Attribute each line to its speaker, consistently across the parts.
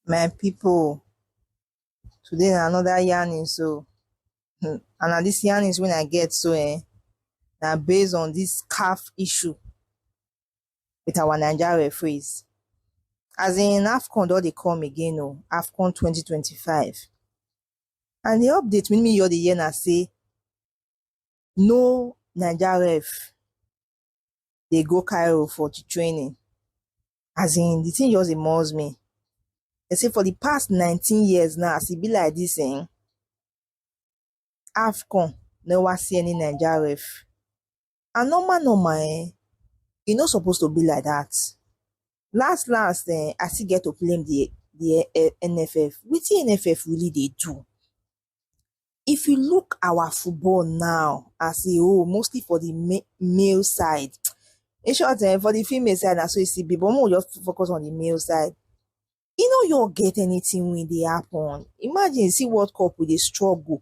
Speaker 1: my people today na another yarning so hmm, and na this yarnings when i get so eh na based on this calf issue with our Nigeria referees. As in AFCON don dey come again o, oh, AFCON 2025. And the update we me hear the year na say no Nigeria ref dey go Cairo for the training. As in the thing just dey muzz me. They say for the past 19 years now, as e be like this, eh, AFCON never see any Nigeria ref and normal normal eh, e no suppose to be like that. Last last eh, I still get to blame the the eh, NFF. Wetin NFF really dey do? If you look our football now as a whole, mostly for the ma- male side, in short eh, for the female side na so e still be but make we just focus on the male side. E no your get anything wey dey happen. Imagine see World Cup we dey struggle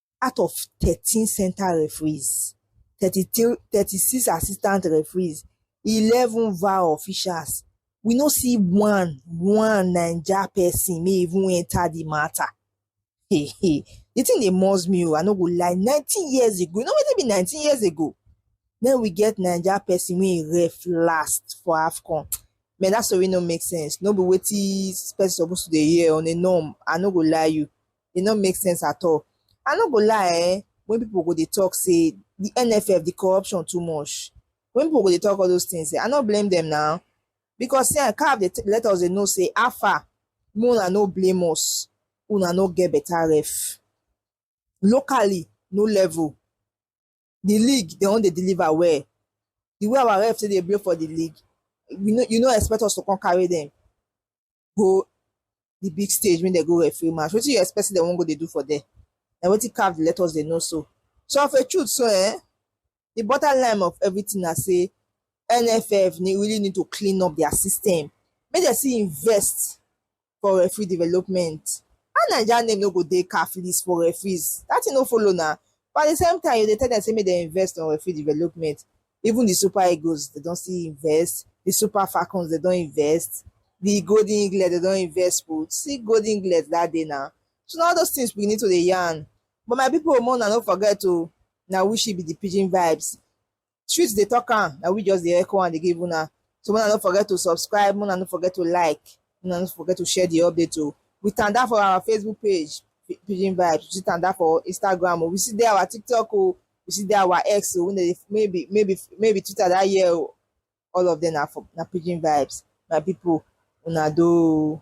Speaker 1: out of thirteen center referees thirty three thirty six assistant referees eleven var officials we no see one one naija person may even enter the matter hey hey the thing dey must me o oh, i no go lie nineteen years ago you know wetin be nineteen years ago then we get naija person wey ref last for afcon man that story no make sense no be wetin person suppose to dey hear on a norm i no go lie you e no make sense at all i no go lie eh when people go dey talk say the nff the corruption too much when people go dey talk all those things eh i no blame them now because say caf dey let us dey know say how far make una no blame us una no get better ref locally no level the league they wan dey deliver well the way our ref say dey blow for the league you no you no expect us to come carry them go the big stage when they go referee match wetin you expect say dem wan go dey do for there na wetin caf dey let us dey know so so of a truth so eh the bottom line of everything na say nff need, really need to clean up their system make dem still invest for referee development how naija name no go dey caf list for referees that thing no follow na but at the same time you dey tell dem say make dem invest on referee development Even di Super Eagles dem don still invest, di Super Falcons dem don invest, di Golden Eaglet dem don invest put. See Golden Eaglet dat day na. So na all those things we need to dey yarn. But my people, make una no forget o, na we she be the pidgin vibes. Street dey talk am, na we just dey echo am dey give una. So make una no forget to subscribe, make una no forget to like, make una no forget to share the update o. We tanda for our Facebook page, Pi- Pidgin Vibes. We still tanda for Instagram o. We still dey our TikTok o. you see that our ex o wey maybe maybe maybe twitter that year o all of them na for na pidgin vibes my people una do